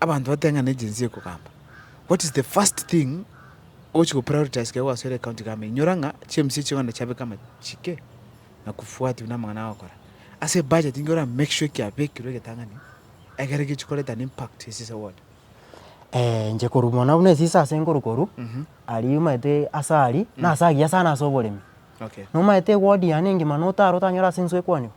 abanto bateng'ane egency ekogamba, what is the first thing ogochi go prioritize ekero gwasoire ecounty government? Inyora ng'a chimbaso echio chikoenda chiabeka amachike na kufuatiwa na amang'ana agokora. Ase ebudget nigo ora make sure kiabekirwe egetang'ani ekero egechi koreta an impact ase ase ward. inche korwa mono buna esisa ase nkorwa korwa, aria omanyete ase aria, nase agiya sana ase oboremi. Okay. Nomanyete eward yane engima notara otanyora ase enswe ekwanigwa.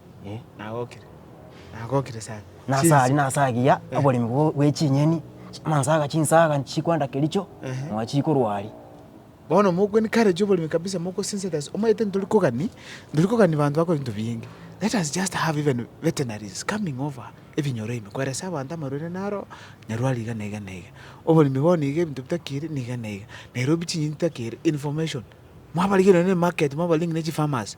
Nagokire, nagokire sana. Nase aria nase agiya oboremi bwo- bwe chinyeni, chimansaga chinsaga nchikwanda kericho, moa chikorwa aria. Bono mokwen courage oboremi kabisa mogosinse that omanyete ntori kogani, ntori kogani banto bakore binto biinge. Let us just have even veterinaries coming over ebinyoro ime koeresa abanto amarwaire naro, nyarwari iga na iga na iga. Oboremi bono iga ebinto bitakiri na iga na iga. Nairobi chinyeni titakere, information. Mwabarigere nonye na emarket mwabaring ne chifarmers.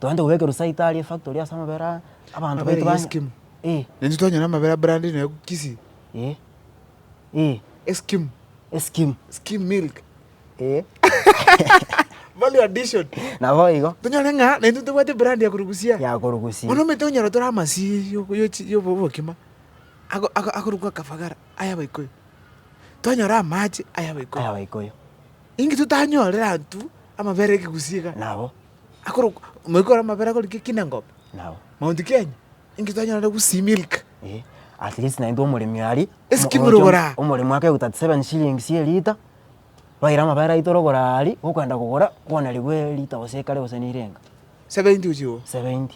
Togende kobeka erusaito aria efactory ase amabere aa, abanto Amabere baito ya banye Eskimo. Eh, Naintwe twanyora amabere a brand nonya Kisii. eh, eh, Eskimo. eskim, Skim milk. eh, Value addition. nabo igo Tonyore ng'a naintwe tobwate brand ya korwa Busia. yakorwa Gusii. Bono omanyete onyora tore amasii yo- yochi- yobo- obokima ako- ako- akorokwa akafagara aya abaikoyo. Twanyora amache aya Aya abaikoyo. Abaikoyo, Inki totanyorera intwe amabere ekegusii iga? nabo. akorokwa omoika ore amabere akorokire kinengobe, Nao maunti Kenya, inki twanyorire gusii milk? eh, at least naintwe omoremi aria Esikimero omoronche ogora. omo- omoremi ake goika 37 shillings ye lita twaira amabere aito orogora aria gokoenda kogora kwanarigwe lita gose ekare gose neirenga 70 ochiwo. 70.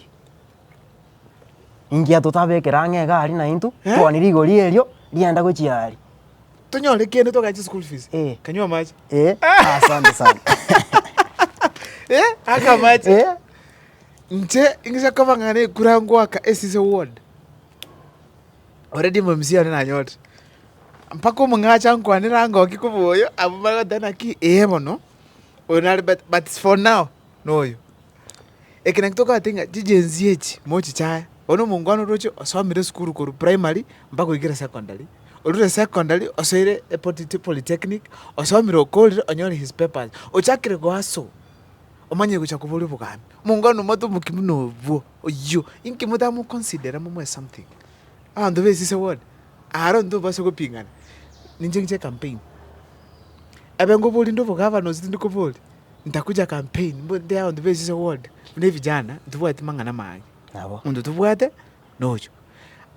Ingia totabekera ang'e egari naintwe, Eh? twoonie rigori erio rienda gochia aaria. Tonyore kende togae chischool fees. Eh. Kanywa amache. Eh, asante sana. Eh, aka amache. Eh, Nche ing'ise koba ng'a nekura ngoaka esise ward. Already mamsie one nanyorire. Mpaka omong'acha ankwanera angokie koba oyo, abamanya goteba naki, eh bono, oyo nare but, but for now, noyo. Ekero togoteba ng'a chijenzi echi mochichaye, oyo na omongwana oroche osomire esukuru korwa primary mpaka oikire secondary, orure secondary osoire epotiti polytechnic, osomire okorire onyore his papers, ochakire goa so, omanye gocha koboria obogambi. Omongwana omwate omokia buna obwo, oyio, inki motamoconsidera momoe something? Abanto besise bono, aro ntobasa gopingana, ninche inche ecampaign, abe ngoborie nde obogavana gose tindi koboria, Ntakuja campaign mbo nde abanto be Isiso ward buna evijana ntibwati mang'ana maange. Nabo. Monto tobwate noyo.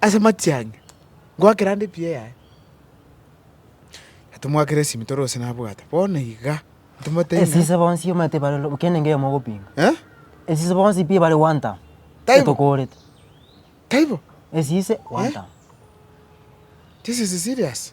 Ase amatiang'i ngoakera nde pi eyaye. Tomoakera esimi tore gose nabwate. Bono iga ntomotebi. Esise bonsi omanyete bare lo- kende ngeyo mogopinga. Eh? Esise bonsi pi bare one term. Taibo. Tokorete. Taibo. Esise one Eh? term. This is serious.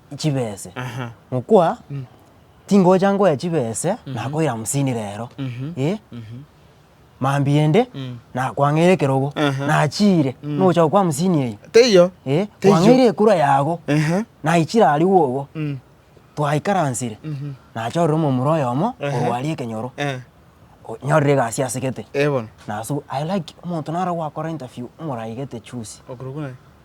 chibese, ngokwa, Tingocha ngoya chibese, nakoira hamsini rero, eh, mambia ende nakwang'eire ekerogo, nachiire, nogocha gokwa hamsini eyio, Teiyo. eh, Teiyo. kwang'eire ekura yago, Ehe. naichire aria gwogo, Mm. twaikaransire, nachorire omomura oyomo Ehe. korwa aria ekenyoro, Eh. o- nyorire egasi ase gete, Eh, bono. nasu, I like omonto naro gwakora interview, omorai gete chusi. Okorokwa naye.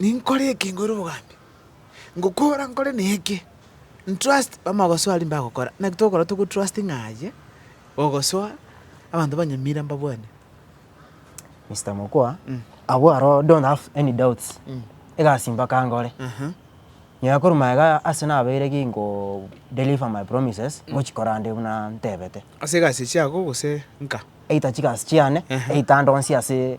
Ninkore eke nkoire obogambi, ngokora nkore na eke, ntrust bamanya gosoa riria mbagokora. Naki togokora togotrustinga aye, ogosoa abanto banyamira mbabwane. Mister Mokua, abwo aro don't have any doubts, egasi mpaka nkore. Aha. Nyuma ya korwa magega ase nabeire ginko deliver my promises, ngochikora nde buna ntebete. Ase egasi chiago gose nka? Either chigasi chiane, Aha. either ndonsi ase.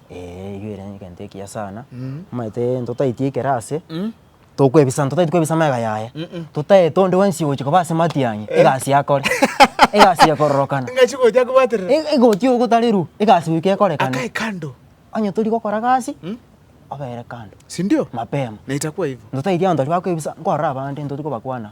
Ee igo ere egento ekiya sana, omanyete ntotaeti ekero ase, tokwebisa ntotaeti kwebisa amega yaye, totaete onde bwensi ogochia koba ase matiang'i egasi yakore egasi ya kororokana. Ng'achi gocha kobaterera. Eg- egoti ogotarerwa egasi goika ekorekane. Akae kando. Onye tori gokora gasi, obere kando. Sindio? Mapema. Na itakuwa hivo. Ntotaeti abanto baria bakwebisa nkorora abande ntoti kobakwana.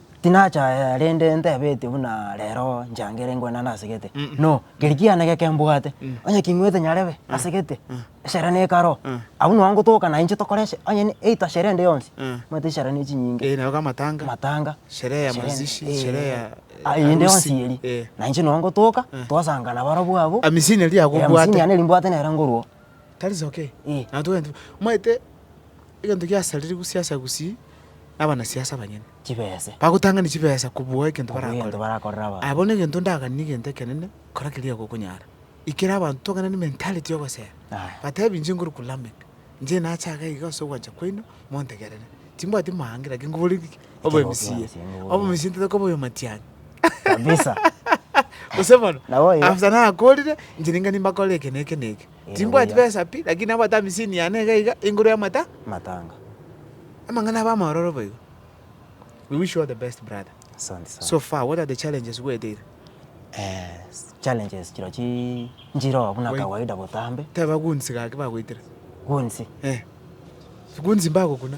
Tinachaya rende ntebetie buna rero nchangere ngwe nane ase gete. No, keri kiane geke mbwate, onye king'wete nyarebe ase gete, esara nekaro, abwo nao ngotoka na inche tokore eshe- onye ne- either sherehe ende yonsi. Omanyete esara ne chinyinge. Eh, naroka amatanga. Amatanga. Sherehe ya mazishi, eh, sherehe ya ah, eyende harusi, yonsi eri. eh. Na inche nao ngotoka, twasangana barabwo abwo. Amisini eria Eh, agobwate. amisini yane eri mbwate nere ngorwo. Tari soke, nabo togende. Omanyete egento giasariri gusii ase Gusii, na abanasiasa abanyene. Chibese. Bagotang'ani chibesa kobua egento Kobua egento barakore. barakore abanto. Aya bono egento ndaganire egento ekenene, kora keria gokonyara. Ikera abanto togende ne mentality yogosera. Aya. Batebi inche ngorokwa Lameck, inche nache iga ase ogwancha kwaino, montegerere. Timbwati maangira ki, nkoboria ki? Obwemusiye. Obwemusiye ntatoka obe oyomatiani. Kabisa. Gose bono, after nakorire, inche ninga nimbakore eke na eke na eke. Timbwati besa pi, lakini nabwate amisini yane iga iga igoro y'amata. Matanga. Amang'ana abe amaororo boigo. We wish you all the best brother. Asante sana. So far, what are the challenges bweteire? Eh, challenges chiro chi nchiroo buna kawaida botambe. Teba goons gaki bagoitera. Goons? Eh. Goons mbagokuna.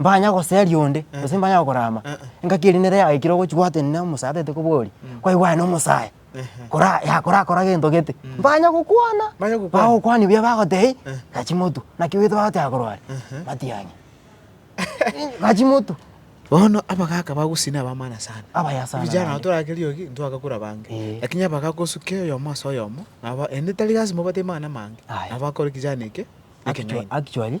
mbanya goseria onde, gose mbanya gokorama, engaki eria nere yagoikire ogochia gwatenena omosae ataete kobori, kwaigwana omosae, kora yakora akora gento gete, mbanya gokwana, Mbanya gokwana. bagokwania buya bagoteba ih, gachi motu, naki oete bagoteba korwa are, matiang'i, gachi motu. Bono abagaka bagosina abamana sana. Abaya sana Vijana naende. tore ake riogi ntwagakura bange. Eh. Lakini abagaka osuke oyomo ase oyomo, nabo ende tari lasima obate mana amange. Aye. Nabo akore kijana eke, Actua- ekenywaini. Actually,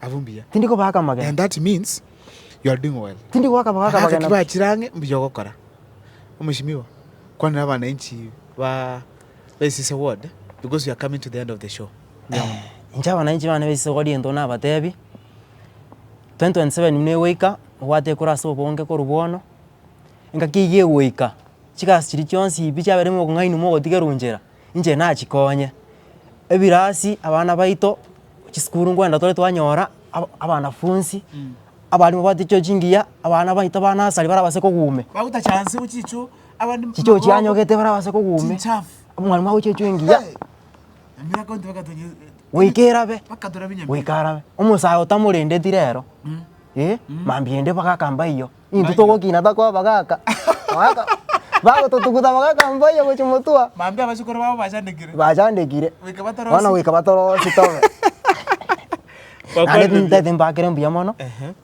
Abwo mbuya. Tindi kobaka amagena. And that means you are doing well. Tindi goaka magaka Agaka amagena. kiba chirange mbuya ogokora. Omeshimiwa, kwanera abananchi ba Besise ward because we are coming to the end of the show. Eh, inche abananchi bane besise gori egento nabatebi 2027 buna egoika obwate ekura ase obonge korwa bono engaki eywo egoika chigasi chiria chionsi pi chiaberire mokong'aini mogotigerwa nchera. inche nachikonye, ebirasi abana baito chisukuru ngwenda tore twanyora aba abanafunsi abalimu bateche chingiya, abana baito ba nasari barabase kogumia chicho chianyogete barabase kogumia, omwalimu agochie chwe engiya goika erabe goika arabe, omosae otamorendeti rero, mambia ende mpaka akamba eywo. Intwe Mbayo. togokina takoa bagaka. Bagaka bagototuguta bagaka mbayo gochia motua. Mambia abachukuru babo bachandekire. Bachandekire. Goika batorosie. Bono goika batorosie tobe. Naende Bakwanire buya. ntete mbakere mbuya mono. Ehe.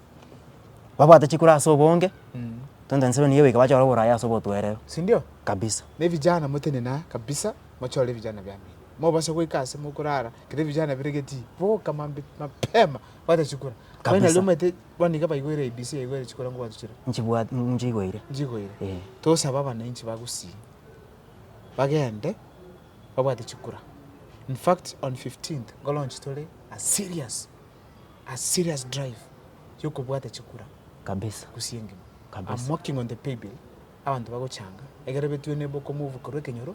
Babwate chikura ase obonge. Mm. Tonto ensemo nigo goika bachore oborayi ase obotwerero. Sindio? Kabisa. Na ebijana motenene aa kabisa mochore ebijana bia mino. Mobase goika ase mokorara kere ebijana biregeti boka mambe mapema bwate chikura. Kabisa. Finally omaete Bono nigo baigwere ABC yaigwere chikura ngwacho chire. Nchibwat nchigoire. Nchigoire. Eh. Tosabe abananchi bagusii bagende babwate chikura. In fact on 15th nkolaunch tore a serious a serious drive yokobwata chikura. Kabisa. Gusii engima. Kabisa. I'm working on the paybill abanto bagochanga ekero betwene bokomove korwa ekenyoro.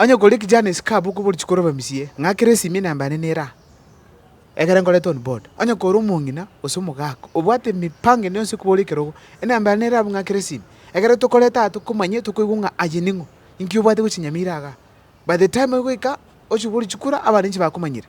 Onye okoria ekechano ase ekabu okoboruche kore abamisie, ng'akera esimi enamba yane nere aa, ekero nkorete on board. Onye kore omong'ina gose omogaka, obwate emipango ende yonsi ekobora ekerogo, enamba yane nere abwo ng'akere esimi. Ekero tokorete aa tokomanya tokoigwa ng'a aye ning'o, inki obwate gochinyamera igaa. By the time ogoika, ochiboruchie kura abande inche bakomanyire.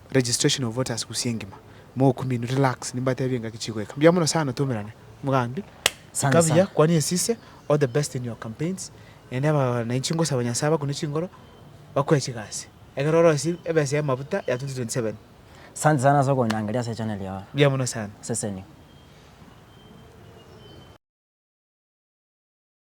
Registration of voters gusii engima mokuminu relax nimbatebie engaki chigoika mbuya muno sana tumerane mugambi sika buya kwania esise all the best in your campaigns naende abananchi ngosaba nyasaye abakune chingoro bakwe chigasi ekero orosie ebesa ya mabuta ya 2027. Sante sana ase okonyangeria ase echannel yago. Mbuya mono sana. Seseni.